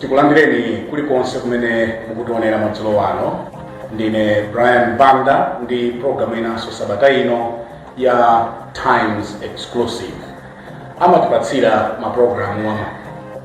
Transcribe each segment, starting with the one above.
tikulandireni kulikonse kumene mukutionera madzulo ano ndine brian banda ndi programu inanso sabata ino ya times exclusive amatipatsira maprogramu ama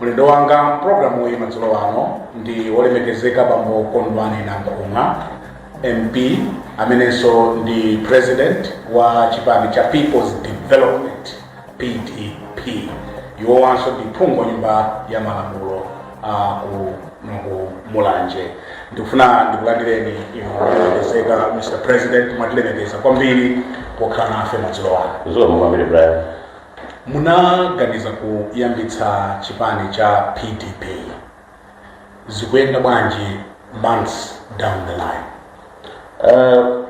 mlendo wanga mprogramu iyi madzulo ano ndi wolemekezeka bambo kondwani nankhumwa mp amenenso ndi president wa chipani cha peoples development pdp iwowanso ndi phungu wa nyumba ya malamulo a ku ku mulanje ndikufuna ndikulandireni inu olemekezeka mr president mwatilemekeza kwambiri pokhala nafe madzulo ano Zikomo kwambiri Brian. munaganiza kuyambitsa chipani cha pdp zikuyenda bwanji months down the line Uh,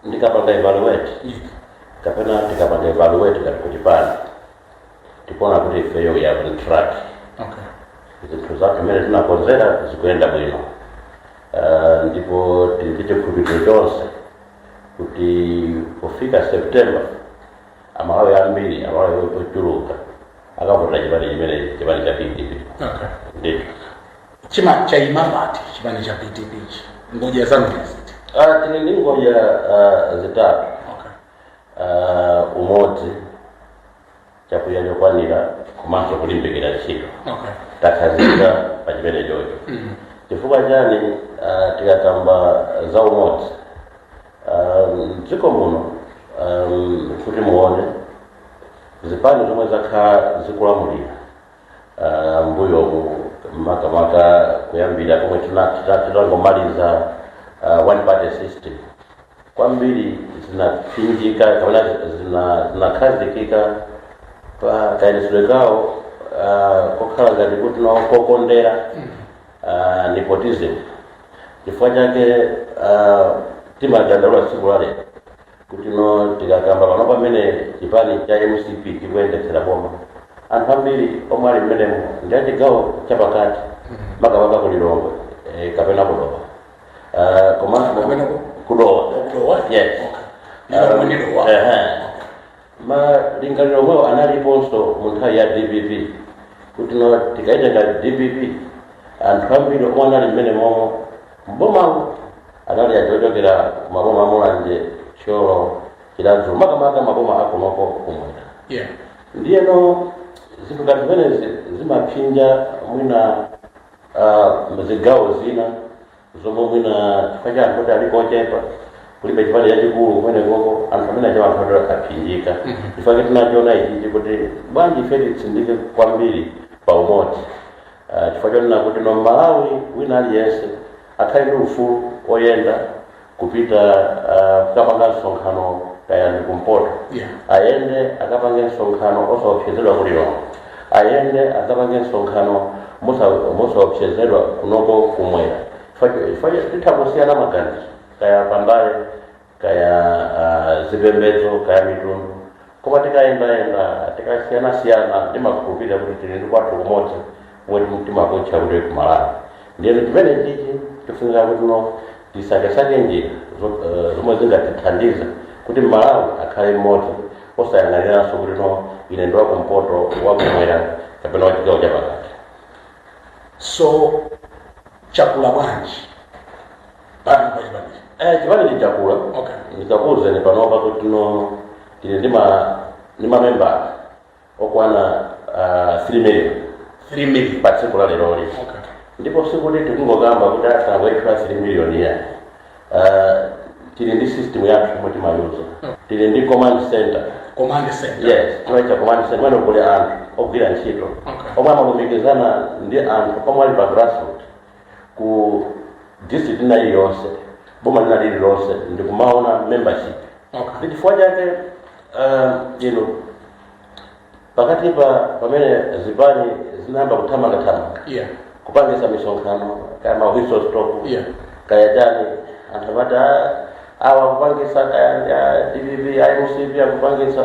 ndikapanga evaluate if kapena tikapanga evaluate ngati chipani tikuona kuti ifeyo we are on track okay zinthu zathu zimene tinakonzera zikuyenda bwino Ah, ndipo tili ndi chikhulupiriro chonse kuti pofika september amalawi ambiri amalawi ochuluka akavotera chipani chimenechi chipani cha pdp okay ndithu chaima chaima pati chipani cha pdp chi ngodya zanu ndi ziti Ah, tili ndi ngodya ah, zitatu okay. Ah, umodzi chakudya chokwanira komanso kulimbikira ntchito okay. takhazikika pa chimenecho mm. chifukwa chani ah, tikakamba za umodzi Ah, mdziko muno ah, kuti muone zipani zomwe zakhala zikulamulira uh, mmbuyo makamaka kuyambira pomwe tinangomaliza uh, one party system kwambiri zinatsindika kapena zinakhazikika pa kayendetsedwe kawo uh, kokhala ngati kuti nawo kokondera uh, nepotism chifukwa chake uh, timadandaula tsiku la lero kuti no tikakamba pano mmene chipani cha mcp chikuyendetsera boma anthu ambiri omwe ali mmenemo ndi achigawo chapakati makamaka ku lilongwe eh, kapena ku dowa Ah, komanso Kapena ku- ku dowa Ku dowa? yes Lilongwe ndi Dowa. Ah, ehe. malingaliro omwewo analiponso mu nthawi ya dpp kuti no tikaitenga dpp anthu ambiri omwe anali mmenemo m'boma anali achokera ku maboma a mulanje thyolo chiradzulu makamaka maboma akunoko kumwera yeah ndiyeno zinthu ngati zimenezi zimaphinja mwina ah, zigawo zina zomwe mwina chifukwa cha anthu oti ali kochepa kulibe chipani chachikulu kumene koko anthu amene acha anthu ati akaphinjika chifukwa tinachiona ichichi kuti bwanji ife titsindike kwambiri pa umodzi Ah, chifukwa chonena kuti no mmalawi wina aliyense akhale ndi ufulu oyenda kupita ah, kukapanga msonkhano kaya ndi kumpoto Yeah. ayende akapange msonkhano osaopsezedwa ku Lilongwe ayende akapange msonkhano mosa- mosaopsezedwa kunoko kumwera Chifukwa cho- chifukwa cho- titha kusiyana maganizo kaya pa mbali kaya uh, zipembedzo kaya mitundu koma tikayendayenda tikasiyanasiyana timakhulupirira kuti tili ndi kwathu kumodzi kumene timakutcha kuti kumalawi ndiyeno chimene chichi tifunika kuti no tisakesake njira zo- eh, zomwe zingatithandiza kuti malawi akhale mmodzi osayang'aniranso kuti no ine ndi wakumpoto wakumwera kapena wachigawo chapakati so chakula bwanji bani bani bani Eh, chipani ndi chakula Okay. ndikakuwuzeni panopa kuti no tili ndi ma ndi mamembala okwana ah, 3 million 3 million pa tsiku la leroli okay ndipo sikuti tikungokamba kuti atangokhala 3 million ya Ah, tili ndi system yathu yomwe timayuza tili ndi command center command center yes timaita command center kumene kuli anthu ogwira ntchito Okay. omwe amalumikizana ndi anthu omwe ali pa grassroot ku district ina iliyonse boma lina lililonse ndikumaona membership Okay. ndi chifukwa chake um, ino pakati pa pamene zipani zinayamba kuthamangathamanga Yeah. kupangisa misonkhano kaya ma whistle stop Yeah. kaya chani anthu amati "Ah, awa kupangisa kaya ndi a dpp a mcp akupangisa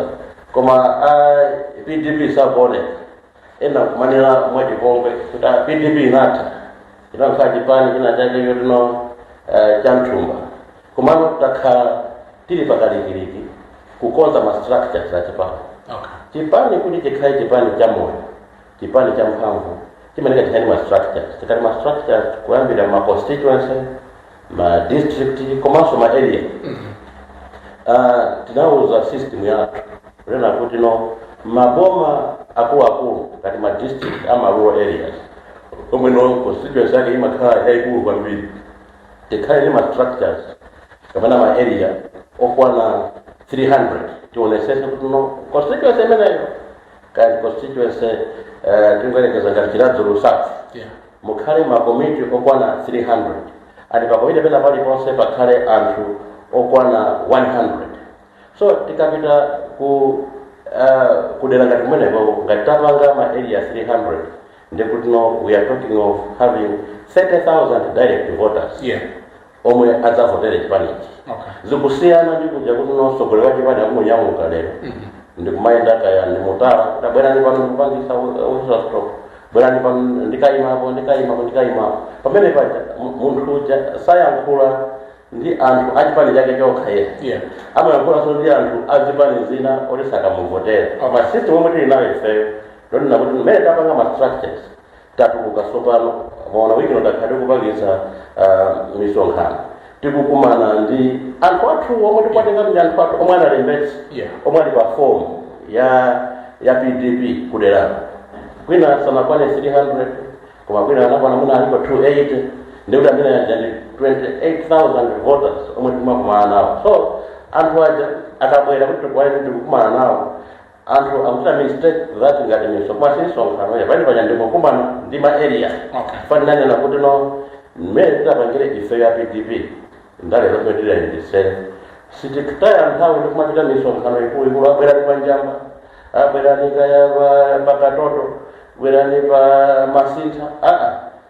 koma a pdp sakuoneka ena akumanena mwachipongwe kuti a pdp inatha inakhala chipani china chake chotino eh, cha mthumba komano takhala tili pakalikiliki kukonza ma structures a chipani okay chipani kuti chikhale chipani cha moyo chipani cha mphamvu chimanika chikhale ndi ma structures tikati ma structures kuyambira ma constituency ma district komanso ma area Ah, tinawuza system yathu kunena kuti no maboma akuluakulu ngati ma district ama rural areas omwe no constituency yake imakhala yayikulu kwambiri tikhale ndi ma structures kapena ma area okwana 300 tionesese kuti no constituency imeneyo kaya constituency eh, tingoyerekeza ngati chiradzulu south Yeah. Mukhale makomiti okwana 300 and pakomiti pena paliponse pakhale anthu okwana 100 so tikapita ku uh, kudera ngati kumenekoko ngati tapanga ma area 300 nde kuti no we are talking of having 30000 direct voters Yeah. omwe adzavotere chipanichi Okay. zikusiyana ndi kuja kuti msogoleri chipani akungonyamuka lero ndikumayenda kaya ndi mu tola kuti a bwerani pano ndikupangisa whistle stop bwerani pano ndikayimapo ndikayimapo ndikayimapo pamene paja mu- munthu uja sayankhula ndi anthu achipani chake chokha yekha Yeah. amayankhulanso ndi anthu azipani zina oti sakamuvotera Okay. ma system omwe tili nayo ifeyo ndonena kuti mmene tapanga ma structures Tatuluka tsopano, mwaona, wiki ino takhala tikupangitsa uh, misonkhano tikukumana ndi anthu athu omwe tikuwatenga ndi anthu athu omwe analembetsa Yeah. omwe ali pa form ya ya pdp kuderako kwina sanakwane 300 koma kwina anakwana mwina alipo 280 ndikuti amene uja ndi 28000 voters omwe timakumana nawo so anthu aja akabwera kuti tikukumana nawo Anthu akuchita mistake that ngati misonkhano si misonkhano ya pali panja ndikukumana ndi ma area Okay. ndifuna ndinene kuti no mmene tidapangire ife ya pdp ndale zomwe tiziyendetsere sitikutaya nthawi ndikumachita misonkhano ikuluikulu a bwerani pa njamba a bwerani kaya pa- pa katoto bwerani pa masintha aa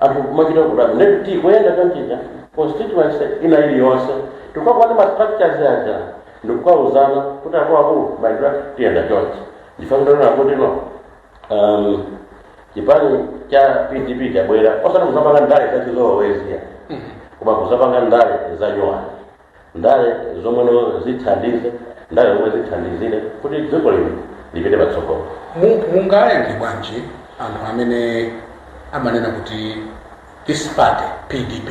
anthu kumachita kutani nde tikuyenda chonchija constituency ina iliyonse tikukakumana ndi ma structures aja ndikukauzana kuti akuluakulu mayendedwe athu tiyenda chonchi ndifuna ndinene kuti no um, chipani cha pdp chabwera osati kuzapanga ndale zachizolowezi koma kuzapanga ndale zanyowani ndale zomweno zithandize ndale zomwe zithandizire kuti dziko lino lipite patsogolo Mu- mungayankhe bwanji anthu amene amanena kuti this party pdp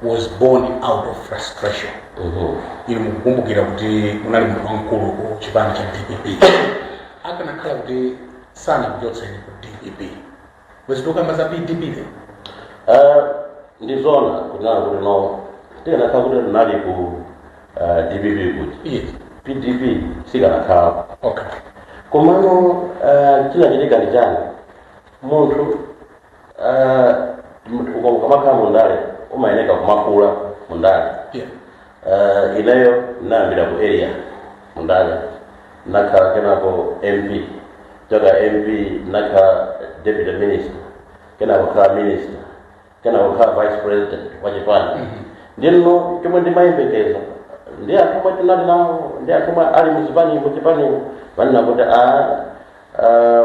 was born out of frustration Mhm. inu mukukumbukira kuti munali munthu wamkulu ku chipani cha dpp akanakhala kuti sanakuchotseni ku dpp bwezi tokamba za pdp lero Eh, ndi zona kunena kuti no tikanakhala kuti tinali ku eh, dpp kuti iye pdp sikanakhala okay komano eh, chinachitika ndi chani munthu eh, muka- ukamakhala mundale umayeneka kumakula mundale iye Eh, ineyo nayambira ku area mundale nakhala kenako mp kuchoka mp nakhala deputy minister kenako nakhala minister kenako nakhala vice president wa chipani nde no chomwe ndimayembekezera ndi anthu omwe tinali nawo ndi anthu omwe ali muzipani muchipanimu nkunena kuti a ah,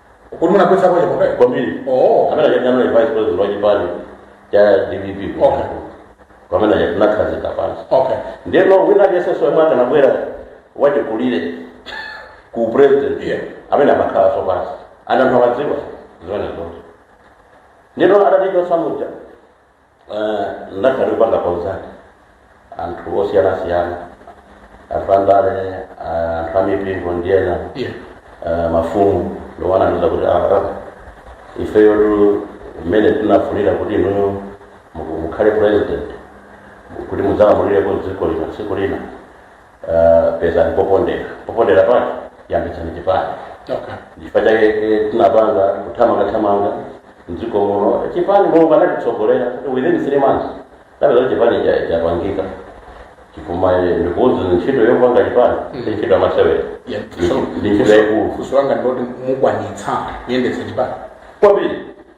Kodi munagwetsa kwa Chapondayo? kwambiri Oh. amene aja anali vice president wa chipani cha dpp Okay. amene aja tinakhazika pansi Okay. ndeno wina aliyensenso yemwe akanabwera wachikulire ku president Yeah. amene amakhalanso pansi and anthu amadziwa zimenezo ndeno atatichosa muja Ndakhala ndikupanga consult anthu osiyanasiyana anthu andale anthu amipingo ndi ena Yeah. ah, mafumu ndi onandiuza kuti aa ifeyo tu mmene tinafunira kuti inuyo muku- mukhale president kuti mudzalamulireko dziko lino tsiku lina Uh, pezani popondera popondera pake yambitsani chipani okay. chifukwa chake eh, tinapanga kuthamanga thamanga mdziko muno chipani mulungu anatitsogolera within three months tinapeza kuti chipani cha- chapangika chifukwa eh, ndikuuzeni ntchito yopanga chipani si ntchito yamasewera Yeah, Ndi- so- ndi ntchito so- yaikulu funso langa ndiloti mukwanitsa kuyendetsa chipani kwambiri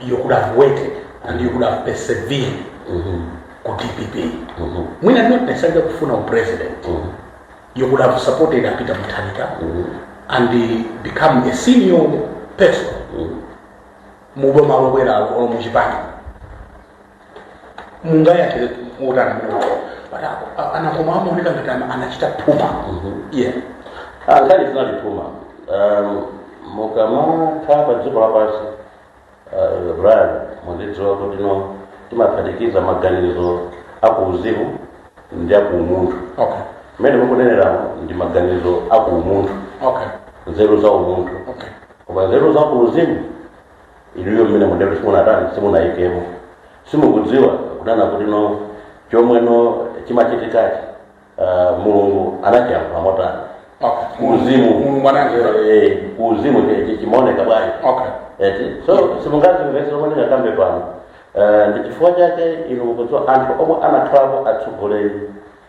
you could have waited and you could have persevered ku dpp mwina not necessarily kufuna upresident you could have supported a peter mutharika and uh, become a senior person muboma lobwera olo muchipani mungayankhire kuti ena ake amaoneka ngati ana- anachita phuma yeah Ah, nkhani sinali phuma Um, mukamakhala pa dziko lapansi ah, brian muzidziwa kuti no timaphatikiza maganizo akuuzimu ndi akuumunthu okay mmene mukunenera ndi maganizo akuumunthu okay nzeru za umunthu okay koma nzeru za kuuzimu inuyo mmene muteromo simunatani simunayikemo simukudziwa kunena kuti no chomwe no chimachitikachi, uh, mulungu anachiyankhula motani okay kuuzimu mulungu anandiuza Eh, kuuzimu chi- chi- chimaoneka bwanji okay eti so simungazimvese zomwe ndingakambe pano Eh, ndi chifukwa chake inu mukudziwa anthu omwe anakhalapo atsogoleri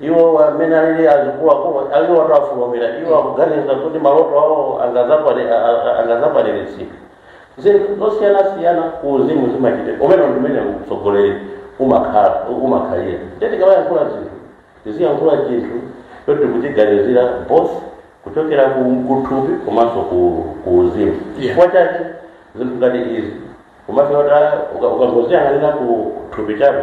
iwo amene alili azikuwako aliwo atafulumira iwo akuganiza kuti maloto awo angazakwani- a- a- angazakwaniritsidwe zinthu zosiyanasiyana ku uzimu zimachitika umene ndimene utsogoleri umakhala umakhalira eti tikamayankhula zinthu tiziyankhula chinthu choti tikuchiganizira both kuchokera ku kuthupi komanso ku- ku uzimu Yeah. chifukwa chake zinthu ngati izi umafika poti ukangoziyang'anira ku thupi chabe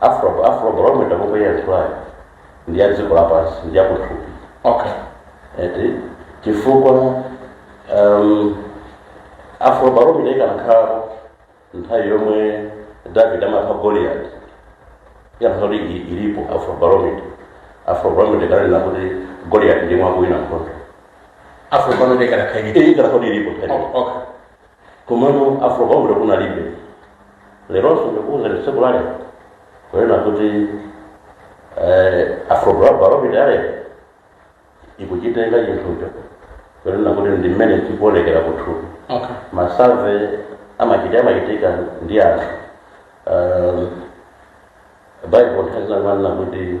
Afro, Afro barometer mukuyitchulayo ndi ya dziko lapansi ndi yakuthupi okay eti chifukwa um, Afro barometer ikanakhala nthawi yomwe David amapha Goliath ikanakhala kuti i- ilipo Afro barometer Afro barometer ikananena kuti Goliath ndi amene akuwina nkhondo afro barometer ikanakhaladi iyi ikanakhala kuti ilipo nthawi okay komano Afrobarometer kunalibe leronso ndikuuzani tsiku lale kunena kuti eh, Afrobarometer ya lero ikuchitenga chinthucho kunena kuti ndi mmene chikuonekera kuthupi okay ma survey amachita amachitika ndi anthu um, bible nthawi zinamanena kuti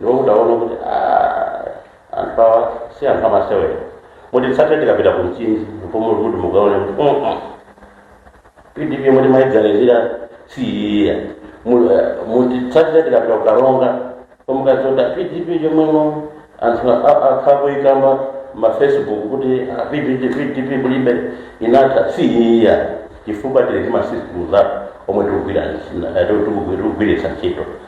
ndipo kudaona kuti ah, anthu awa si anthu amasewera mutitsate tikapita ku mchinji mfumu kuti mukaone kuti "Mm, mm, pdp mumaiganizira si iyayi mutitsatire tikapita ku Karonga pomwe mukazaone pdp chomwemo anthu a- a- akhala akuikamba mafacebook kuti ah, pdp pdp kulibe inatha si iyayi chifukwa tili ndi masystems omwe tikugwira- eh, tikugwiritsa ntchito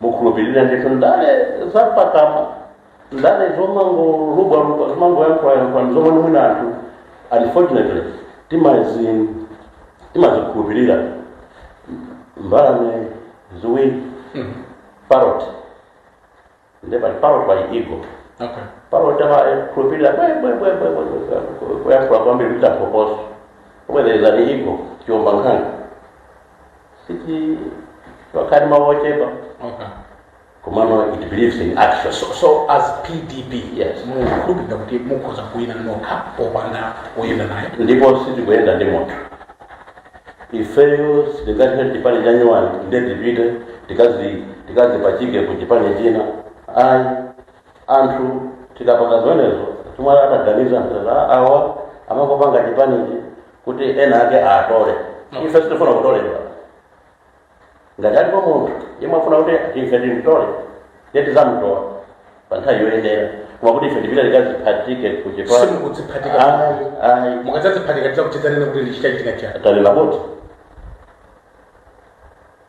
mumakhulupirira ndithu ndale zapakamwa ndale zomangolubwalubwa zomangoyankhulayankhulani zomwe mwina anthu unfortunately timazi- timazikhulupirira mbalame ziwiri parrot nde pali parrot pali eagle Okay. parrot amakhulupirira kuyankhula kwambiri kuchita phokoso pomwe there is an eagle chiombankhanga sichili ngati mawu ochepa komano it believes in action so, so as pdp yes mukhulupirira kuti mukhoza kuwina nokha popanda oyenda naye ndipo sitikuyenda ndi munthu ifeyo sitingati chipani chanyuwani nde tipite tikazi- tikaziphatike ku chipani china ayi anthu tikapanga zimenezo chomwe angaganize awa amangopanga chipanichi kuti ena ake atole ife sitifuna kutoledwa ngati alipo munthu yemwe afuna kuti ife timtole ye tizamtola pa nthawi yoyenera koma kuti ife tipite tikaziphatike ku chipani simukudziphatika Ayi, ayi. mukadzadziphatika tizachezanso kunena kuti ndiye chachitika chani tanena kuti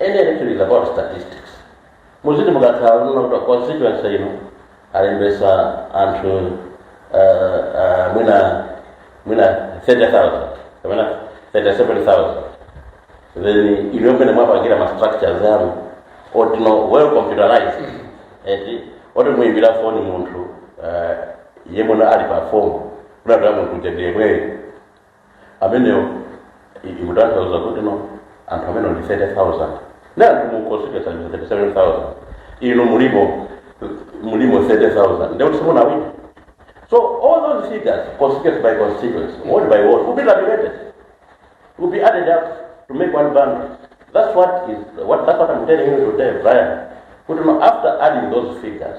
Any election is about statistics. Muziti mukakhala mukudziwa kuti constituency ino alembesa anthu uh, uh, mwina mwina 30,000 kapena 37,000 then inuyo mmene mwapangira ma structures anu oti no well computerized eti oti muimbira foni munthu uh, yemwe ali pa fomu kunena kuti munthu uja ndiyemweyo ameneyo i- ikutanthauza kuti no anthu amene ndi 30000 nde anthu mu constituency ndi 37000 inu mulimo mulimo 30000 ndekuti simunawina so all those figures constituency by constituency ward by ward will be tabulated will be added up to make one bundle that's what is what that's what i'm telling you today brian kuti no after adding those figures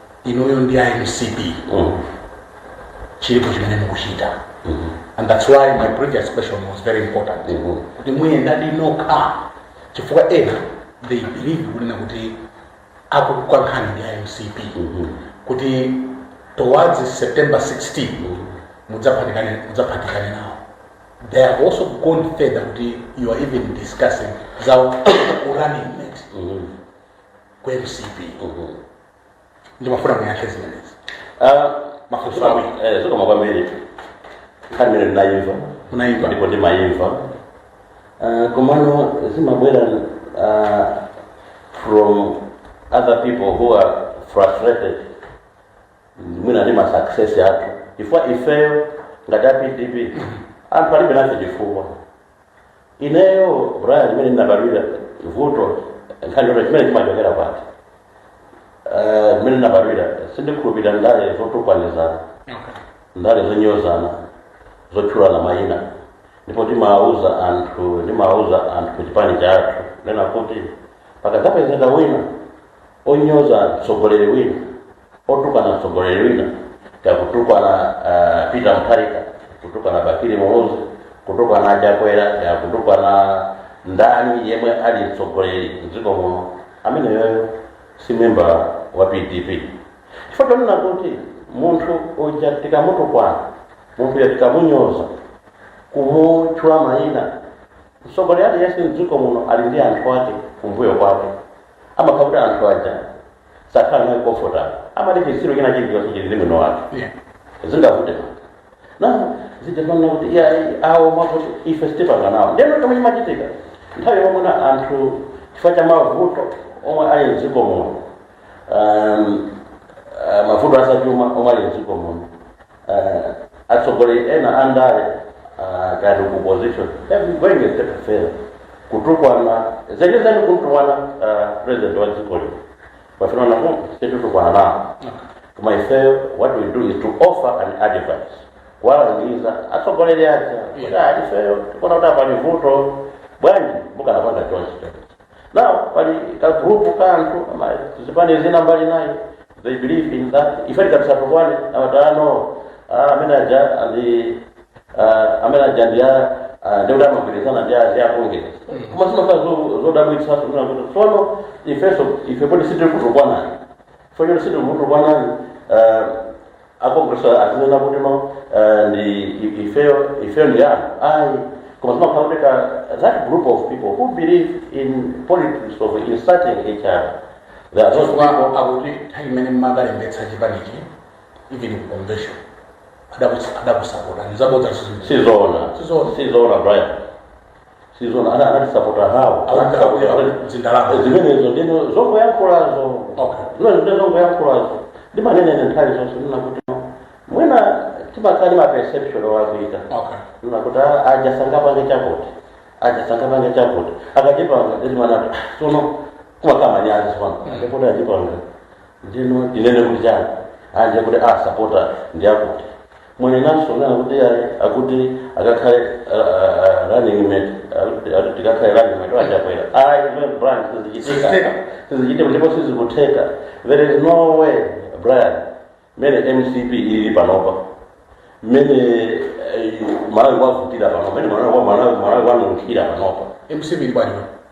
inuyo ndi a mcp Mm. chilipo chimene mukuchita and that's why my previous question was very important Mhm. kuti muyendadi nokha chifukwa ena they believe kunena kuti akukukankhani ndi a mcp kuti towards september 16 mudzaphatikane nawo they have also gone further kuti you are even discussing za urunning mate ku mcp Mhm. ndimafuna muyankhe zimenezi Ah, mafunso awiri eh, zikomo kwambiri nkhani imene ndinayimva Munayimva. ndipo ndimayimva Ah, komano zimabwera ah, from other people who are frustrated mwina ndi masuccess athu chifukwa ifeyo ngati a pdp anthu alibe nafe chifukwa ineyo brian imene ndinabadwira vuto nkhani yoti chimene chimachokera pati Eh, imene ndinabadwira sindikhulupirira ndale zotukwanizana ndale zonyozana zotchulana mayina ndipo timawuza anthu ndimawuza anthu ku chipani chathu nena kuti pakadzapezeka wina onyoza mtsogoleri wina otukwana mtsogoleri wina kaya kutukwana uh, peter mutharika kutukwana bakili muluzi kutukwana chakwera kaya kutukwana ndani yemwe ali mtsogoleri mdziko muno ameneyoyo si memba wa pdp chifukwa chonena kuti munthu uja tikamutukwana munthu uja tikamunyoza kumutchula mayina mtsogoleri aliyense mdziko muno ali ndi anthu ake kumbuyo kwake amakhala kuti anthu aja sakhala naye comfortable amati chitsiru china chilichonse chili ndi mwini wake Yeah. zingavute na zijapanira kuti iya awo mwakuti ife sitipanga nawo ndeno chomwe chimachitika nthawi yomwe na anthu chifukwa cha mavuto omwe ali mdziko muno um, uh, mavuto azachuma omwe ali mdziko muno atsogoleri ena a ndale ah, kaya ndi ku opposition even going a step further kutukwana zenizeni kumtukwana ah, president wa dziko lino pafuna napo sititukwana nawo koma ifeyo what we do is to offer an advice kuwalangiza atsogoleri aja kuti ah, ifeyo tikuona kuti apa pali vuto bwanji mukanapanga chonchi Now, pali kagrupu ka anthu ama- zipani zina mbali inayo they believe in that ife tikati tisatukwane amati no amene aja andi ah, amene aja ndi a ah, ndi kuti amagwirizana ndi a congress koma zimakhala zo- zodabwitsa zimena kuti tsono ifenso ife kuti sitiri kutukwanani fonyero sitiri kutukwanani akongresa azinena kuti no eh, ndi i- ifeyo ifeyo ndi chani ayi koma zimakhala kuti ka that group of people who believe in politics of insulting each other there are those chifukwa people akuti nthawi imene mmakalembetsa chipanichi even ku convention adakusapotani ndizabodza sizoo sizoona Sizoona. sizoona brian sizona ana anatisapota awo zindalama zimenezo ndino zongoyankhulazo Okay. zimenezo ndi zongoyankhulazo ndimanena nthawi zonse kunena kuti mwina timakhala ndi maperception olakwika okay kunena kuti "Ah, aja sangapange chakuti aja sangapange chakuti akachipanga ndimana sono kumakhala manyazi sono ndikuti achipanga ndino tinene kuti chani anje kuti asapotedwa ndi akuti mwanenanso kunena kuti ayi akuti akakhale ah, ah, running mate akuti- akuti tikakhale running mate wachakwera ayi iwe brian sizichitika Sizichitika. sizichitika ndipo sizikutheka there is no way brian mene mcp ili panopa mene eh, malawi kwavutira panopa mene malawi kwa- Malawi- malawi kwanunkhira panopa mcp ili bwanji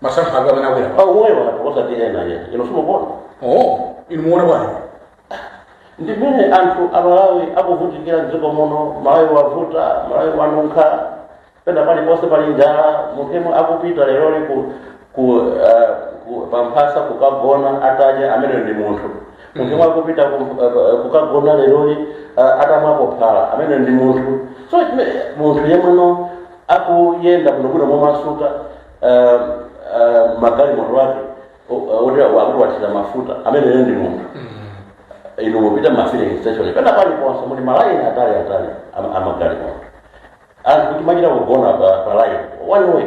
masankho ake amene akwera pa umoyo wake osati ena ena ino simukona oh inu muone bwana ndi mmene anthu amalawi akuvutikira mdziko muno malawi wavuta malawi wanunkha pena paliponse pali njala munthu yemwe akupita leroli ku, ku, uh, ku pamphasa kukagona atadya amene ndi munthu munthu yemwe akupita ku, uh, kukagona leroli uh, atamwapo phala amene ndi munthu so chime- munthu yemweno akuyenda bwinobwino momasuka um, um, magalimoto ake o- o- oti akuti wathira mafuta amene ene ndi munthu inu mupita mafilling station pena paliponse muli malaini atali atali ama- amagalimoto anthu akumachita kugona pa pa line one way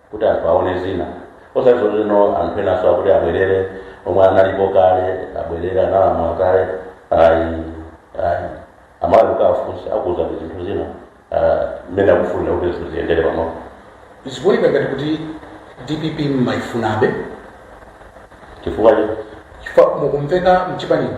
kuti anthu aone zina osati zomwezo anthu enanso akuti abwerere omwe analipo kale abwerere analamula kale ayi ayi amalawi kuwafunsa akuuzani zinthu zina ah, mmene akufunira kuti zinthu ziyendere pamodzi zikuoneka ngati kuti dpp mmayifunabe chifukwa chifukwa mukumveka mchipanimo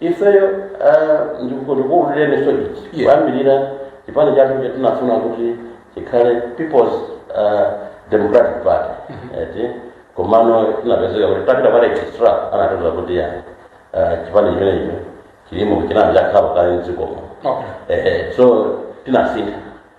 ifeyo ah, ndiku- ndikuululireninso ichi Yeah. kuyambirira chipani chathu icho tinafuna kuti chikhale peoples ah, democratic party eti komano tinapezeka kuti tapita pa registrar anatiuza kuti ya ah, chipani chimenecho chilimo chinali chakhalako kale mdzikomo Okay. Eh, so tinasintha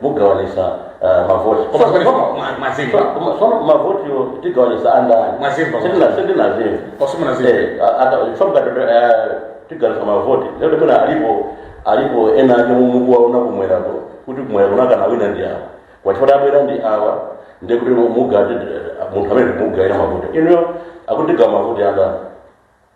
mugawanisa ah, mavoti Koma koma koma mwa- mwazimva. Koma- koma mavotiwo tigawanisa andani Mwazimva. Sindina- sindinazimva Koma simunazimva. Eh, a- ata- chifukwa mukati, eh, tigawanisa mavoti lero pena alipo alipo ena ake mukuwaona kumwerako kuti kumwera kunakawina ndi awa kwachifukwa tabwera ndi awa ndiye kuti mukati munthu amene mugawira mavoti inuyo akuti tigawa mavoti andani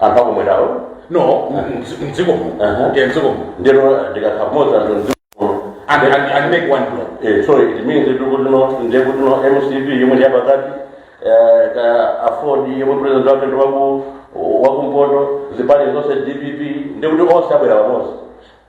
anthu akum'mwerawo no mdzi- mdziko muno Aha. ndiye mdziko muno ndino atakhala pamodzi anthu mdziko and, and, and make one block Eh, so it means kuti kutino ndiye kutino mcp yomwe ndi yapakati eh, ka aford yomwe president wake ndi waku wakumpoto zipani zonse dpp ndiye kuti onse abwera pamodzi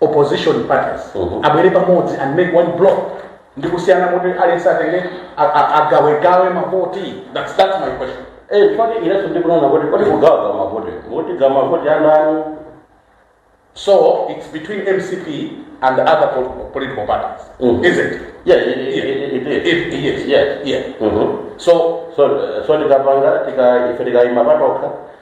opposition parties Mhm. abwere pamodzi and make one block ndi kusiyana kuti aliyense atenge a- a- agawegawe mavoti that's, that's my question Eh, chifukwa ineso ndikunena kuti kodi kugawa mavoti kuti tigawe mavoti andani so it's between mcp and other po- political parties Mhm. isn't it yeah it, it, it, it, it, If- yes. yes yeah Mhm. so so so tikapanga tika ife tikayima patokha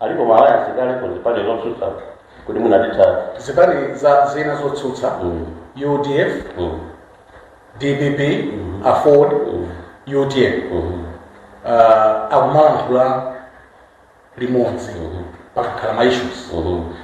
alipo ma alliance kale ku zipani zotsutsa kuti mukati mwa zipani za zina zotsutsa Mm. udf Mm. dpp aford utm Mm. uh, akumalankhula limodzi pakakhala ma issues Mhm.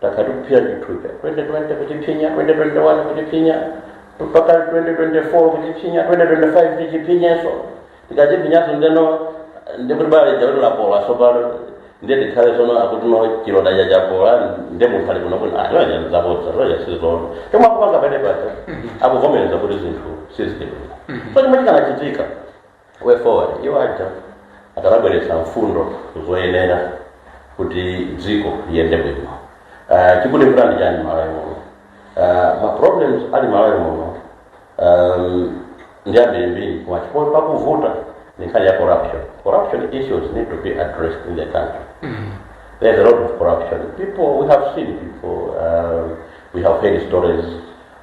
takhala tikuphinya chithupsa 2020 kuchiphinya 2021 kuchiphinya mpaka 2024 kuchiphinya 2025 tichiphinyenso tikachiphinyanso ndeno ndikuti bala lija lapola tsopano ndiye tikhale sono akutino chilonda chija chapola ndiye munthu ali kuno kuti ayoya zabodza zoya sizoona chomwe akupanga pamene paja akuvomereza kuti zinthu sizikuyenda so chimene chikanachitika way forward iwo aja akanabweretsa mfundo zoyenera kuti dziko liyende bwino uh, chikutivuta ndi chani malawi muno uh, ma problems ali malawi muno um, ndi ambirimbiri koma chimene chikuvuta ndi nkhani ya corruption corruption issues need to be addressed in the country there's a lot of corruption people we have seen people uh, we have heard stories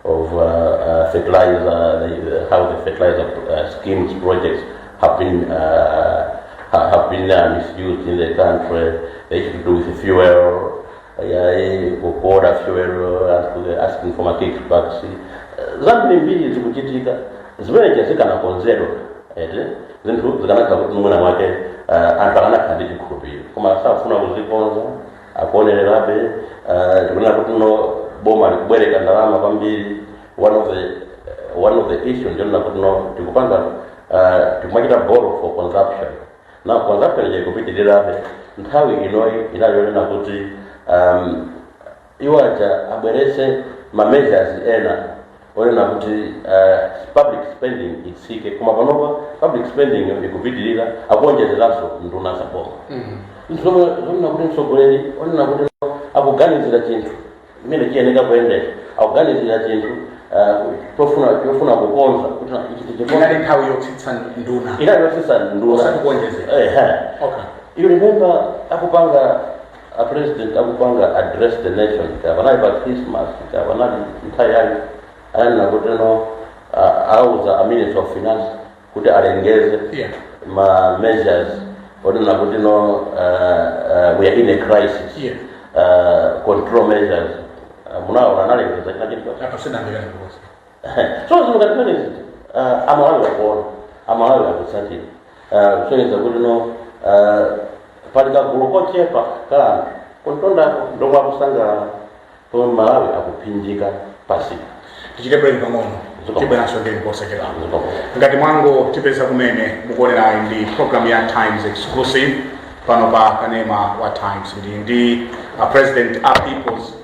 of uh, uh, fertilizer, the, how the fertilizer uh, schemes projects have been uh, ha- have been uh, misused in the country. The issue to do with fuel, uh, yeah, ku- kuorder fuel, uh, anthu asking for ma kickbacks. Uh, zambirimbiri zikuchitika zimeneja zikanakonzedwa eti zinthu zikanakhala kuti mwina mwake uh, anthu akanakhala ndi chikhulupiriro koma sakufuna kuzikonza akuonererabe uh, tikunena kuti no boma likubwereka ndalama kwambiri one of the uh, one of the issues ndi yonena kuti no tikupanga uh, tikumachita borrow for consumption na consumption ija ikupitirirabe nthawi inoyi inali yonena kuti um, iwo aja abwerese ma measures ena onena kuti uh, public spending itsike koma panopa public spending yo ikupitirira akuonjezeranso nduna za boma zinthu zomwe zonena kuti mtsogoleri onena kuti akuganizira chinthu mmene chiyeneka kuyendera akuganizira chinthu uh, chofuna chofuna kukonza kuti na- ichi tichikonza inali nthawi yotsitsa nduna inali yotsitsa nduna Osati kuonjezera. Ehe. okay. you remember akupanga a president akupanga address the nation kaya panali pa christmas kaya panali nthawi yake ananena kuti no auza a minister of finance kuti alengeze Yeah. ma measures onena kuti no uh, uh, we are in a crisis Yeah. uh, control measures uh, munaona analengeza china chilichonse Apa sindinamve yangu bosi. so zinthu ngati zimenezi ah, amalawi akuona amalawi akutsatira Ah, kusonyeza kuti no ah, pali kagulu kochepa kali kumtundako ndomwe akusangalala pomwe amalawi akuphinjika pansipa tichite break pang'ono Ziko. tibweranso ndipo posachedwa Ziko. ngati mwangotipeza kumene mukuonerayi ndi program ya times exclusive pano pa kanema wa times ndi ndi uh, president a peoples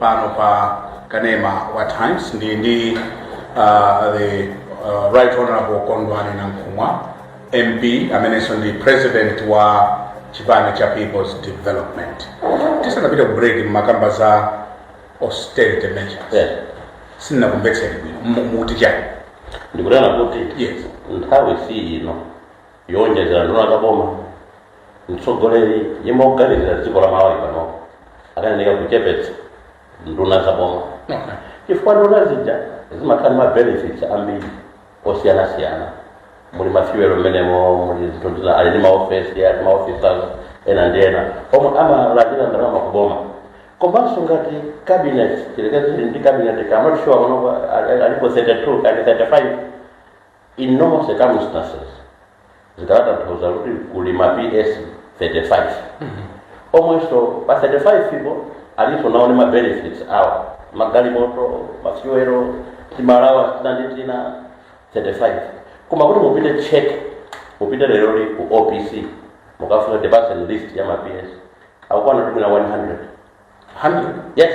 pano pa kanema wa times ndi ndi uh, the uh, right honorable kondwani nankhumwa mp amenenso ndi president wa chipani cha peoples development tisanapita ku break mmakamba za austerity measures Yeah. sindinakumvetseni bwino Mu- mukuti chani ndikunena kuti Yes. nthawi si ino yowonjezera nduna za boma mtsogoleri yemwe woganizira dziko la malawi pano akanayenera kuchepetsa nduna za boma chifukwa nduna zija zimakhala ndi mabenefits ambiri osiyanasiyana muli mafiwelo mmenemo muli zinthu zina ali ndi maofesi ali maofisas ena ndi ena omwe amalandira ndalama kuboma komanso ngati cabinet tiyerekeze ndi cabinet I'm not sure panopa alipo 32 ali 35 In normal circumstances zikadatanthauza kuti kuli ma PS 35 omwenso pa 35 po alinso nawo ndi ma benefits awo magalimoto mafuelo timaalawansi tina ndi tina 35 koma kuti mupite mucheke mupite leroli ku opc mukafunse the present list ya ma PS akukwana ndikunena 100 100 yes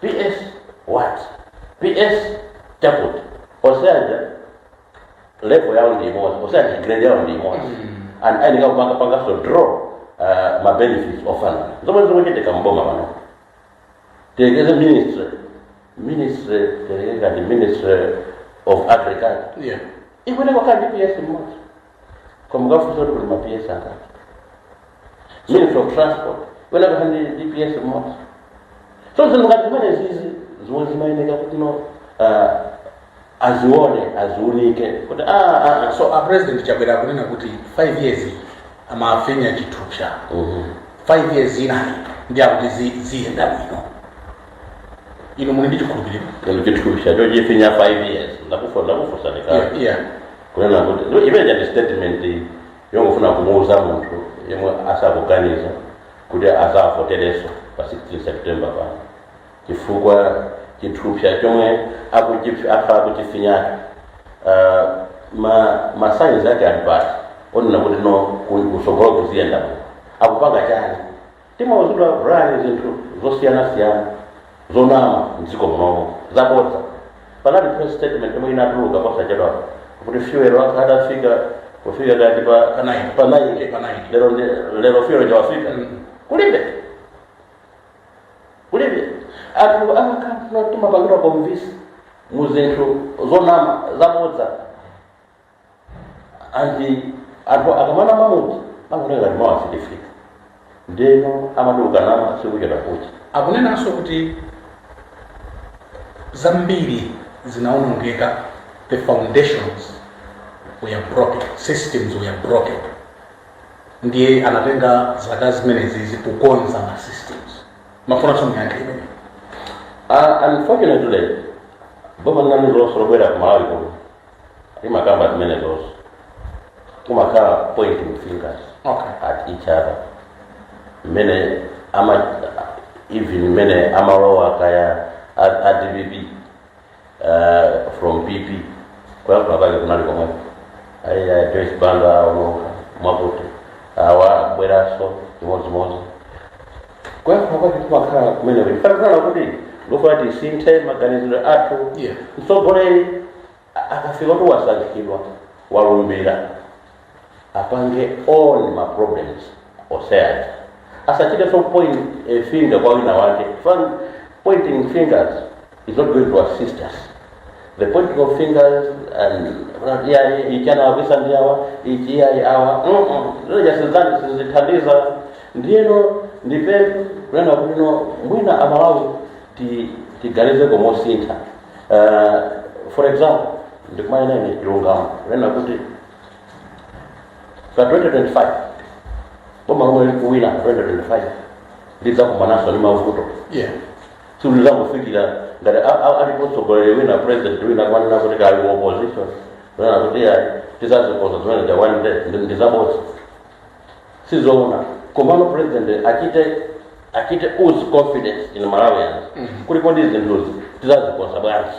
ps what ps chakuti onsewa level yawo ndi imodzi onsewa grade yawo ndi imodzi and akuyeneka kumapanganso draw uh, ma benefits ofanana zomwe zikuchitika mboma pano tiyerekeze ministry ministry tiyerekeze ngati ministry of agriculture yeah ikuyeneka kukhala ndi ps mmodzi koma ukafunsa kuti kuli ma ps angati ministry of transport iyeneka kukhala ndi ps mmodzi so zinthu ngati zimenezi ndi zomwe zimayeneka kuti no ah, azione aziunike kuti ah, ah, ah. so a president chakwera akunena kuti 5 years amafinya chithupsa Mhm. 5 years inayi ndi akuti zi- ziyenda bwino inu muli ndi chikhulupiriro Koma chithupsa ndiye chifinya 5 years. Ndakufu ndakufunsa Yeah, ndikali. yeah. Kunena kuti ndiyo imene ndi statement yongofuna kumuuza munthu yemwe asakuganiza kuti azavotereso pa 16 September pano. Chifukwa chithupsa chomwe akuchifi afa akuchifinya uh, ma ma signs ake ali poti onena kuti no kuli kusogolo kukuyenda akupanga chani Timauzidwa Brian zinthu zosiyanasiyana zonama mdziko munomu, zabodza. Panali press statement yomwe inatuluka posachedwapa kuti fuel akhala atafika kufika kati pa Pa nine. pa nine. Eh, pa nine. Lero ndi- lero fuel uja wafika Mm. kulibe kulibe anthu amakhala timapangidwa convince mu zinthu zonama zabodza and anthu akamana mamuti angonena ngati mawu asidifika ndeno amaduluka nawo sikuchedwa kucha akunenanso kuti zambiri zinaonongeka the foundations were broken systems were broken ndiye anatenga zaka zimenezi akukonza ma systems mufunanso muyankhe imene Uh, unfortunately, boma lina lililonse lobwera ku Malawi kuno limakamba zimenezonso kumakhala pointing fingers okay at each other mmene ama even mmene amalowa kaya a, a dpp uh, from pp kuyankhula kwake kunali komweko ayi a joyce banda aononga mwakuti awa akubweranso chimodzimodzi kuyankhula kwake kumakhala kumeneko chifukwa chonena kuti ndikufuna tisinthe maganizidwe athu Yeah. mtsogoleri a- akafika kuti wasankhidwa walumbira apange own ma problems osayati azichitanso point a finger kwa wina wake Fan- pointing fingers It's not going to assist us. The pointing of fingers and iyayi ichi anawonongetsa ndi awa ichi iyayi awa izo sizati sizithandiza ndiyeno ndi bwino kunena kuti no mwina amalawi ti- tiganizeko mosintha uh, for example ndikumanena ine chilungamo kunena kuti pa 2025 boma lomwe likuwina 2025 lidzakumananso ndi mavuto Yeah. Silizangofikira ngati a- a- alipo mtsogoleri wina president wina akunena kuti kali mu opposition wina kuti ayi tizazikonza zimenezi one day ndi- ndi zabodza sizoona komano president achite achite ooze confidence in malawians kuti kodi zinthuzi tizazikonza bwanji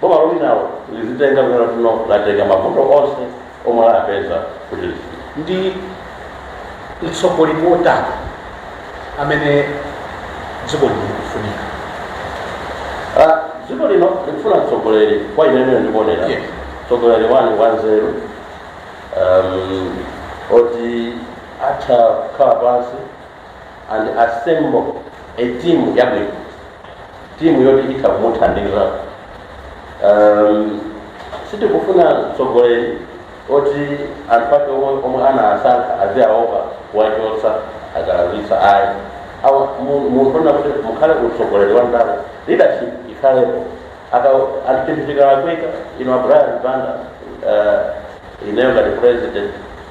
Boma lomwe linawo lizitenga kumene lino latenga mavuto onse omwe lapeza kuti lifike. Ndi utsogoleri wotani amene dziko lino likufunika? Ah, dziko lino likufuna mtsogoleri kwa ine imene ndikuonera Yes. mtsogoleri 1 wanzeru um, oti atha kukhala pansi and assemble a team yabwino timu yoti itha kumuthandiza um, sitikufuna mtsogoleri oti anthu ake omwe omwe anasankha aziaopa kuwachotsa akalakwitsa ayi awa mu- munthu ona kuti mukhale utsogoleri wa ndale leadership ikhalepo ikuti chinthu chikalakwika inu a Brian Banda uh, ineyo ngati president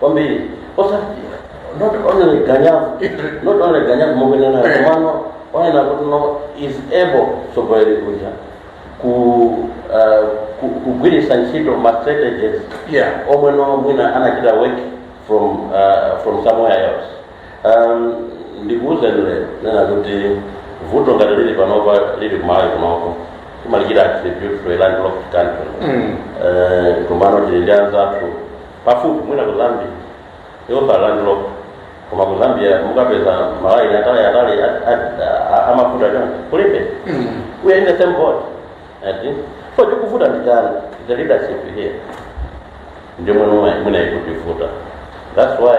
kwambiri osati not only ganyavu not only ganyavu mukunenamo komano onena kuti no is able mtsogoleri uja ku uh, ku- kugwiritsa ntchito ma strategies Yeah. omwe no mwina anachita ma work from uh, from somewhere else Um, ndikuwuzani lero kunena kuti vuto ngati lili panopa lili kumalawi kunoko timalichita attribute to a landlocked country Mm. Eh, komano tili ndi anzathu pafupi mwina ku zambia yokhala landlocked koma ku zambia mukapeza malaini atali atali a- a- a- amafuta chonchi kulibe Mm. we are in the same boat ati so chikuvuta ndi chani the leadership here ndiyomwe mwina ikutivuta that's why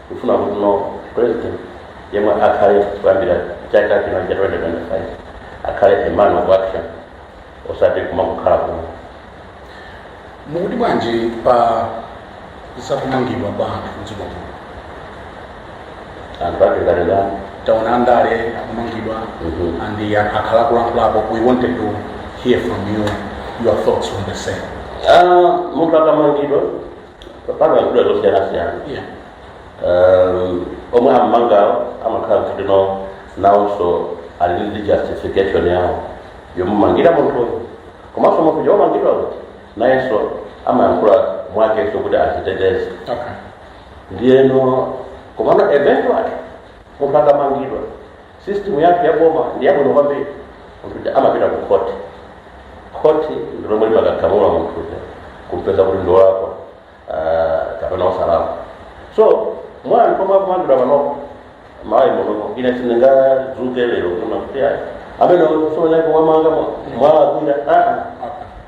Tikufuna kuti no president yemwe akhale kuyambira chaka chino cha 2025 akhale a man of action osati kumangokhala ku... Mukuti bwanji pa zakumangidwa kwa anthu mdziko muno anthu ake a zandale taona andale akumangidwa Mhm. and the anthu akhala kulankhulapo we wanted to hear from you your thoughts on the same Ah, munthu akamangidwa pamakhudza zosiyanasiyana Yeah. um, omwe ammangawo amakhala kuti no nawonso ali ndi justification yawo yomumangira munthuyo komanso munthu womangidwa uja nayenso amayankhula mwakenso kuti aziteteze Okay. ndiyeno komano eventually munthu akamangidwa System yathu ya boma ndi yabwino kwambiri. Munthu uja amapita ku court. Court ndi lomwe limakagamula, munthu uja kumpeza kuti ndi wolakwa, ah, kapena osalakwa. So mwa anthu omwe akumangidwa panopo m'Malawi muno ine sindingadzuke lero kunena kuti ayi ameneyo mwamumanga mwalakwitsa aa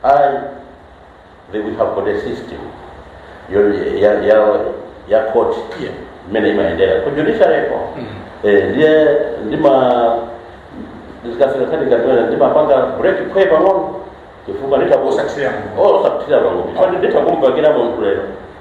ayi They will have got a system yawo ya ya ya court Yeah. imene imayendera ku judiciary ko eh ndiye ndima ndikafika kati kati kuona ndimapanga break pang'ono chifukwa nditakusa Osakusiyana. oh sakuthira pang'ono chifukwa nditakumpakira munthu lero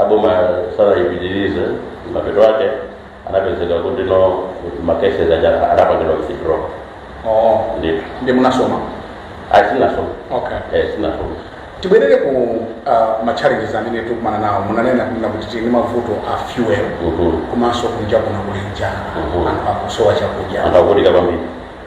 aboma sanayipitirize mapeto ake anapezeka kuti no makese zija anapangidwa withdraw oh ndithu ndi munasoma asinasoma okay eh sinasoma tibwerere ku uh, machallenges amene tikumana nawo munanena kunena kuti tili ndi mavuto a fuel Mhm. komanso kunja kuno kuli njala Mhm. anthu akusowa chakudya akuvutika kwambiri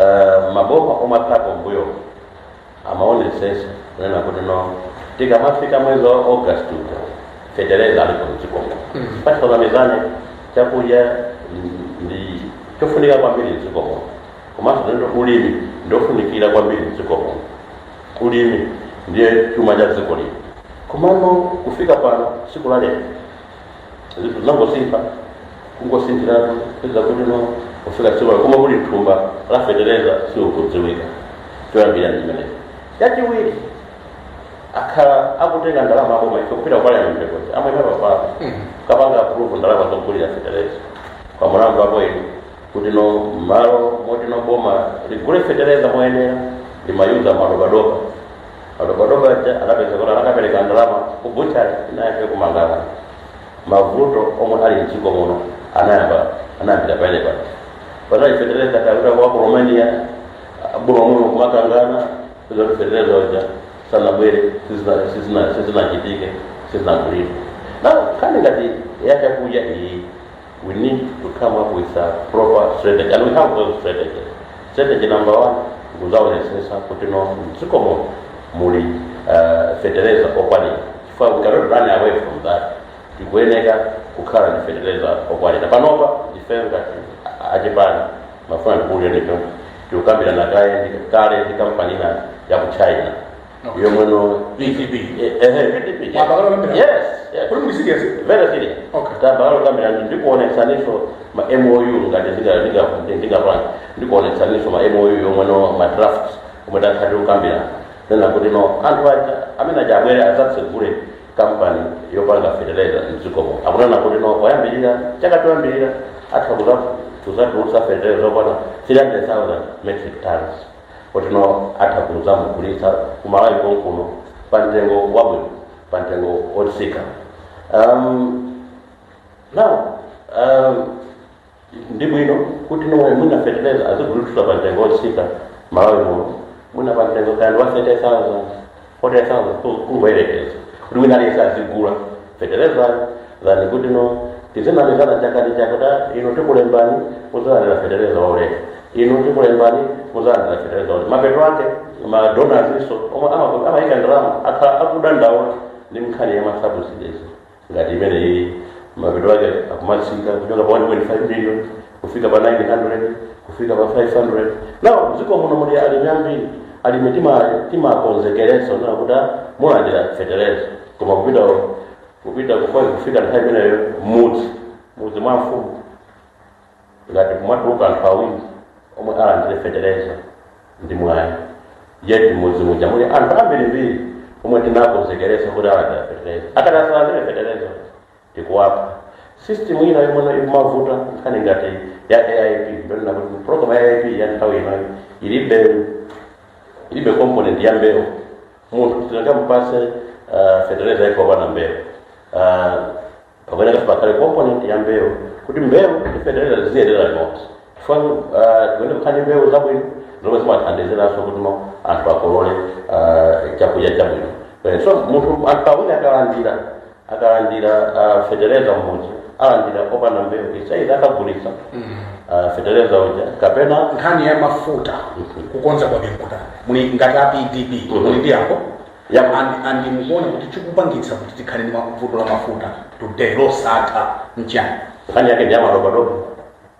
Eh, maboma omwe akhalapo mbuyo amaonesesa kunena kuti no tikamafika mwezi wa august uja fetereza alipo mdzikomo pachifukwa choti chakudya ndi- ndi chofunika kwambiri mdzikomo komanso then ulimi ndofunikira kwambiri mdzikomo ulimi ndiye chuma cha dziko lino komano kufika pano siku la lero zinthu zinangosintha kungosinthiratu kupeza kuti no kufika tsiku koma kuti thumba la fetereza sizikudziwika choyambirira ndi chimenechi yachiwiri akhala akutenga ndalama aboma ife kupita kupalani mpekozi amwene papapo kapanga approve ndalama zogulira fetereza kwa mlandu wake ndi kuti no malo moti no boma ligule fetereza moyenera limayuza madobadoba madobadoba aja anapezeka kuti anakapereka ndalama ku buchari inayake kumangalandu mavuto omwe ali mdziko muno anayamba anayambira pamene paja pano fetereza akapita kwa ku romania boma muno kumakangana zoti fetereza uja sanabwere sizina- sizina- sizinachitike sizinagulire now nkhani ngati yachakudya iyi We need to come up with a proper strategy and we have those strategies. Strategy number one kuzaonesesa kuti no mdziko muno muli uh, fertilizer okwanira chifukwa we cannot run away from that tikuyeneka kukhala ndi fertilizer okwanira panopa ife ngati achipani ndimafuna ndikuuzeni kuti tikukambirana kaye ndi- kale ndi kampani ina ya ku china yomwe no PDP. eh, eh, PDP, yes. Mwayamba kale kukambirana? Yes, yes. Kodi muli serious? Very serious. Okay. Tayamba kale kukambirana ndikuonetsaninso ma MOU ngati ndinga- ndinga- ndi- ndingapanga ndikuonetsaninso ma MOU omwe ndi ma draft omwe takhala tikukambirana kunena kuti no anthu aja amene aja abwere adzatsegule kampani yopanga fertilizer mdzikomo akunena kuti no oyambirira chaka choyambirira atha kuza- kuzatulutsa fertilizer okwana 300000 metric tons oti no atha kuzamugulitsa ku malawi konkuno pa mtengo wabwino pa mtengo wotsika um, now um, ndi bwino kuti no mwi- mwina feteleza azigulitsidwa pa mtengo wotsika malawi muno mwina pa mtengo ngati wa 30000 kodi osangoyerekeza kuti wina aliyense azigula fetereza dhani kuti no tizinamizana chaka ndi chaka kuti inu tikulembani muzalandira fetereza waulere inu tikulembani muzalandira fetereza waulere mapeto ake madonazinso omwe ama- amayika ndalama akhala akudandaula ndi nkhani ya masabusidizi ngati imeneyi mapeto ake akumatsika kuchoka pa 1.5 million kufika pa 900 kufika pa 500 now dziko muno muli alimi ambiri alimi tima- timakonzekeretsano kuti ah, mulandira fetereza koma kupita kupita kufika nthawi imeneyo mudzi mudzi mwa mfumu ngati kumatuluka anthu awiri omwe alandire fetereza ndi mwayi yeti mudzi muja muli anthu ambirimbiri omwe tinakonzekeresa kuti alandira fetereza akapanda kulandira fetereza tikuwapha system ina yomwe ikumavuta nkhani ngati ya aip ndonena kuti program ya aip ya nthawi ino ilibe ilibe component ya mbewu munthu sungamupase uh, fetereza popanda mbewu uh, pakuyeneka kuti pakhale component ya mbewu kuti mbewu ndi fetereza ziziyendera limodzi chifukwa uh, ziyenera kukhala mbewu zabwino zomwe zimathandiziranso kuti no anthu akolole uh, chakudya chabwino Eh, so munthu anthu awiri akalandira akalandira uh, fetereza mmodzi alandira opanda mbewu inside akagulitsa uh, fetereza uja kapena nkhani ya mafuta kukonza kwa mikuta muli ngati a pdp muli ndi yankho ya and- and mukuona kuti chikupangitsa kuti tikhale ndi vuto la mafuta today losatha mchani nkhani yake ndi ya madobadoba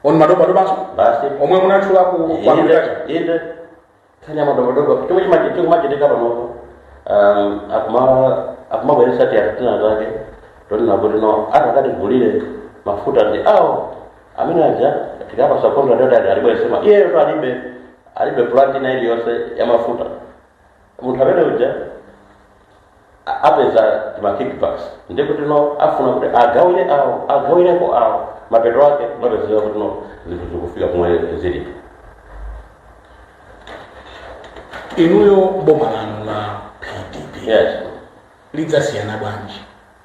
on madobadobanso basi omwe munatchula ku ku inde agriculture inde nkhani ya madobadoba chomwe chima- chikumachitika panopo um, akuma- akumabweresa ti anthu anzake tonena kuti no atakatigulire mafuta ndi awo amene aja tikawapasa kontra totali alibweresema iyeyo to alibe alibe plant ina iliyonse ya mafuta munthu amene uja a- apeza ma kickbacks ndi kuti no afuna kuti agawire awo agawireko awo mapeto ake zimapezeka kuti no zinthu zikufika komwe zilipo inuyo boma lanu la pdp yes lidzasiyana bwanji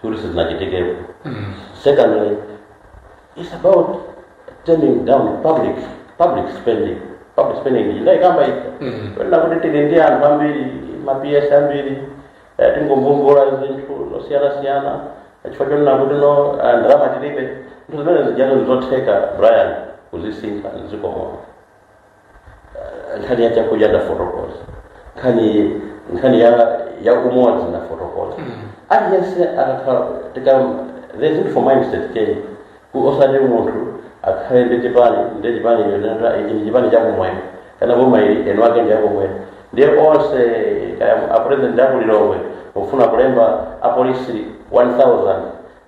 kuti sizinachitikepo secondly it's about toning down public public spending public spending ndi chinthu tikukamba zonena kuti tili ndi anthu ambiri ma ps ambiri eh, tingomagula zinthu zosiyanasiyana chifukwa chonena kuti no ah, ndalama tilibe zinthu zimene zijazo ndizotheka brian kuzisintha mdziko muno nkhani ya chakudya ndafotokoza nkhani nkhani ya ya umodzi ndafotokoza aliyense akakhala tika there's need for mindset change Ku- osati munthu akhale ndi chipani ndi chipani chonena ichi ndi chipani chakumwera kenako boma ili eni ake ndi akumwera ndiye onse kaya apresident akulilongwe mufuna kulemba apolisi 1000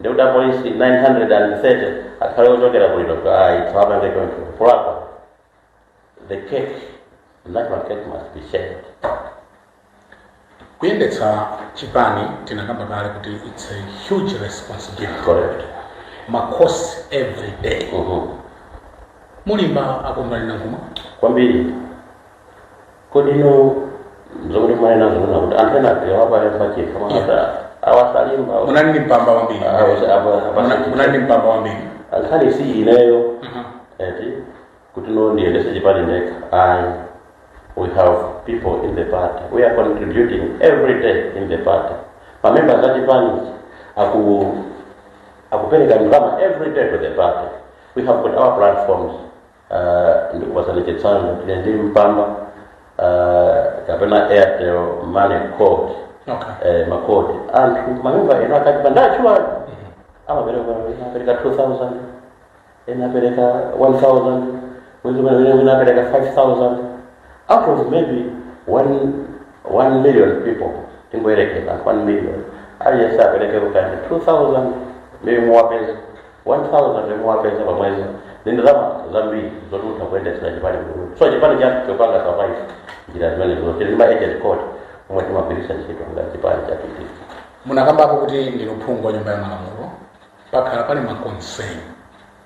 ndikuti apolisi 930 akhale ochokera kulilongwe ayi sitingapange choncho kulakwa The cake, the national cake must be shared. kuyendetsa chipani tinakamba kale kuti its a huge responsibility Correct. makosi every day Mm-hmm. mulimba akumbali ndi kuma Kwambiri, kodi ndi zomwe mwaena zona kuti anthu ena ayalephera paokha mwanata awasalimba munali ndi mpamba wambiri Muna- munali ndi mpamba wambiri ankhani si ineyo Mhm. eti kuti no ndiyendetse chipani ndekha ayi we have people in the party we are contributing every day in the party mamemba a chipani aku akupereka ndalama every day to the party we have got our platforms uh, ndikupatsani chitsanzo tili ndi mpamba uh, kapena airtel money code Okay. eh, makodi anthu mamemba ena achipani chathu amapereka ena apereka 2000 ena apereka 1000 mwezi mwene mwene apereka 5000 out of maybe 1 1 million people tingoyerekeza 1 million aliyense apereke kukani 2000 maybe mwapeza 1000 yomwe wapeza pa mwezi ndi ndalama zambiri zoti mutha kuyendetsera chipani kuruti so chipani chathu chikupanga survive njira zimenezo tili ndi ma agent code omwe timagwiritsa ntchito ngati chipani cha pp munakamba apo kuti ndinu phungu wa nyumba ya malamulo pakhala pali maconcern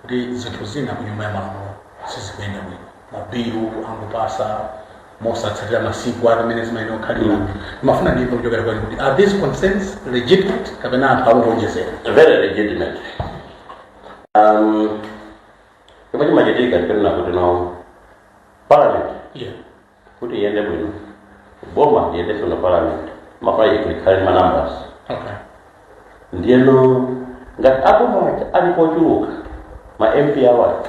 kuti zinthu zina ku nyumba ya malamulo sizikuyenda bwino mabilu akungopasa mosatsatira masiku ati amene zimayenera kukhalira ndimafuna ndimve kuchokera kwanu kuti are these concerns legitimate kapena anthu akungowonjezera very legitimate um chomwe chimachitika ndi kunena kuti no parliament yeah. kuti iyende bwino boma liyende bwino parliament limafunika likhale ndi ma numbers okay. ndiyeno ngati aboma aja ali pochuluka ma mp awaja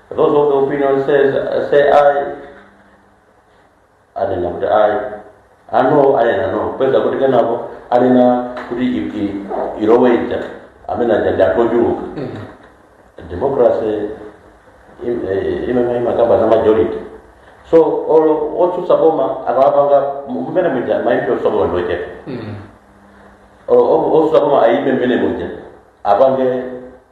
Those of the opinion say aye, anena kuti aye, no, aye and no. Mupeza kuti kenako, anena kuti i- i- iloweja, amene aja ndi anthu ochuluka. Democracy im- eh, imene imakamba za majority. So, olo otsutsa boma akawapanga mmene muja ma MP otsutsa boma ndi ochepa. Olo otsutsa boma ayipe mmene muja apange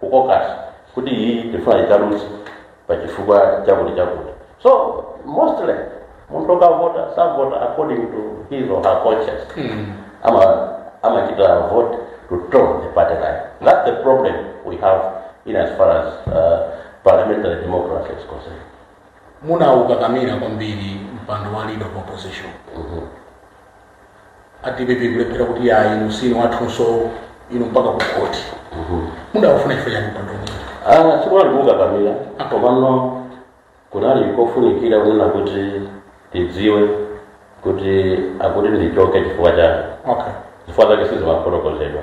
ku caucus kuti iyi tifuna ikaluze pa chifukwa chakuti chakuti so mostly munthu okavota savota according to his or her conscience ama amachita vote to toe the party line that's the problem we have in as far as uh, parliamentary democracy is concerned munaukakamira kwambiri mpando wa leader of opposition a dpp kulephera kuti ayi inu sinu wathunso inu mpaka ku khoti mudaufuna chifukwa chani mpando umenewu? Ah, sikunali kukakamira komano kunali kofunikira kunena kuti tidziwe kuti akuti ndichoke chifukwa chake okay chifukwa zake sizimafotokozedwa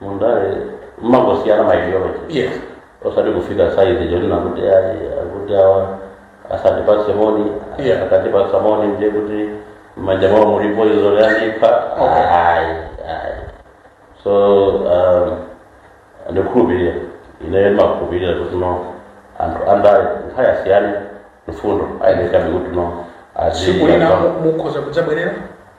mundale mmangosiyana ma ideology yes osati kufika saizi yonena kuti ayi akuti awa asandipatse moni Yeah. akandipatsa moni ndiye kuti mmanja mwawo muli poison yandipha Okay. ayi ayi so um, ndikhulupirira ineyo ndimakhulupirira kuti no anthu andale kaya asiyane mfundo ayenekabe kuti no azi- tsiku lina mu- mukhoza kudzabwerera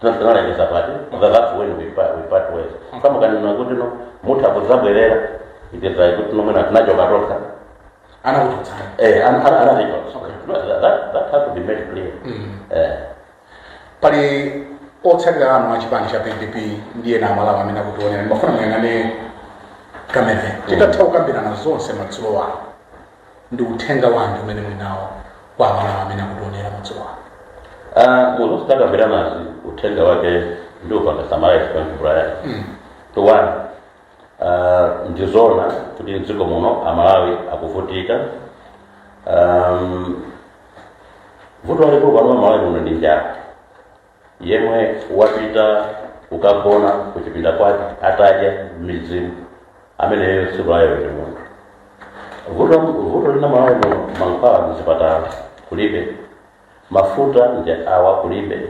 tinazikanaendesa party koma that's when we part, we part ways samukanena kuti no mutha kudzabwerera itezayi kuti no mwina tinachoka tokha anakuchotsani eh an- an- anaticho Okay. No, that, that, that has to be made clear eh pali otsatira anu a chipani cha pdp ndi ena amalawi amene akutionera ndimafuna muyang'ane kamera titatha kukambirana zonse madzulo ano ndi uthenga wanji umene muli nawo kwa amalawi amene akutionera madzulo ano Ah, mu zonse takambiranazi uthenga wake ndiupanga summarize pang'ono Brian Mm. tuwana ah, ndizona kuti mdziko muno amalawi akuvutika um, vuto lalikulu pano mmalawi muno ndi njala yemwe wapita kukagona kuchipinda kwake atadya nsima ameneyo tsiku lalero ndi munthu vuto vuto lina malawi muno mankhwala muzipatala kulibe mafuta ndi awa kulibe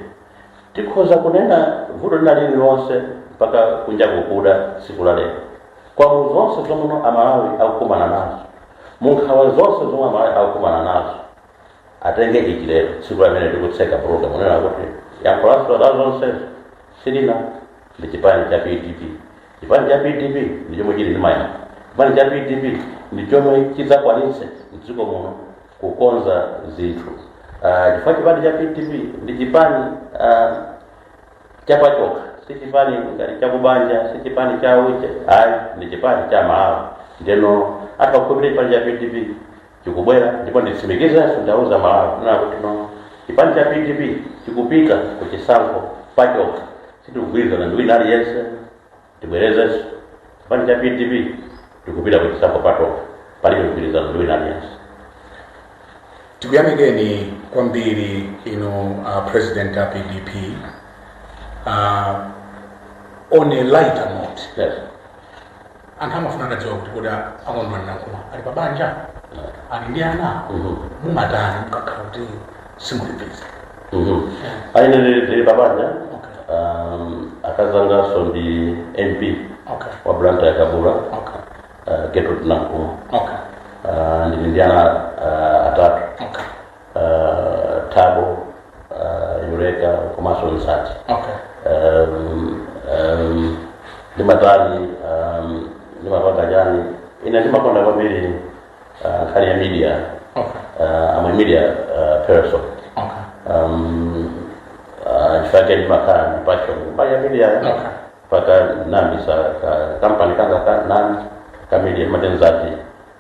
tikhoza kunena vuto lina lililonse mpaka kunja kukuda tsiku la lero koma mu zonse zomwe amalawi akukumana nazo mu nkhawa zonse zomwe amalawi akukumana nazo atenge ichi lero tsiku limene tikutseka program kunena kuti yankho lazo la zonsezi lili ndi chipani cha pdp chipani cha pdp ndi chomwe chili ndi mayankho chipani cha pdp ndi chomwe chidzakwanitse mdziko muno kukonza zinthu Ah, chifukwa chipani cha pdp ndi chipani ah, chapachokha si chipani ngati chakubanja si chipani cha uje ayi ndi chipani cha amalawi ndeno akakhulupirira chipani cha pdp chikubwera ndipo nditsimikizenso ndauza malawi kunena kuti no chipani cha pdp chikupita ku chisankho pachokha sitikugwirizana ndi wina aliyense tibwerezenso chipani cha pdp tikupita ku chisankho patokha palibe mgwirizano ndi wina aliyense tikuyamikeni kwambiri inu uh, president a pdp uh, on a lighter note yes anthu amafuna atadziwa kuti kodi a Kondwani Nankhumwa ali pa banja ali ndi ana mumatani mukakhala kuti simuli busy ah ine ndili pabanja Okay. um, akazi anganso ndi mp okay wa Blantyre Kabula okay uh, Gertrude Nankhumwa okay uh, ndili ndi ana uh, atatu okay uh, Thabo uh, yureka komanso nsati okay um, um, ndimatani um, ndimapanga chani ine ndimakonda kwambiri uh, nkhani ya media okay uh, I'm a media uh, person okay um, uh, chifukwa chake ndimakhala ndi passion mbali ya media Okay. mpaka ndinayambitsa ka kampani kanga ka nani ka media ndimatenzati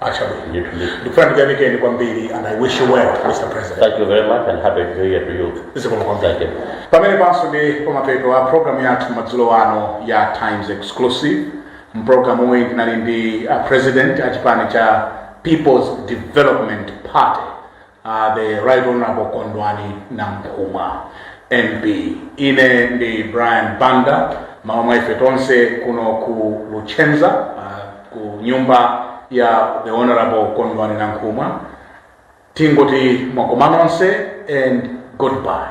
Ah chabwino. Ndithu, ndithu. Ndikufuna ndikuyamikeni kwambiri and I wish you well, Mr. President. Thank you very much and happy new year to you. Zikomo kwambiri. Thank you. Pamene paja ndi pamapeto a programu yathu madzulo ano ya Times Exclusive. M'pulogalamu iyi tinali ndi a president a chipani cha People's Development Party Uh, the Right Honorable Kondwani Nankhumwa MP. Ine ndi Brian Banda m'malo mwa ife tonse kuno ku Luchenza uh, ku nyumba ya the Honorable Kondwani Nankhumwa tingoti mwakoma nonse and goodbye.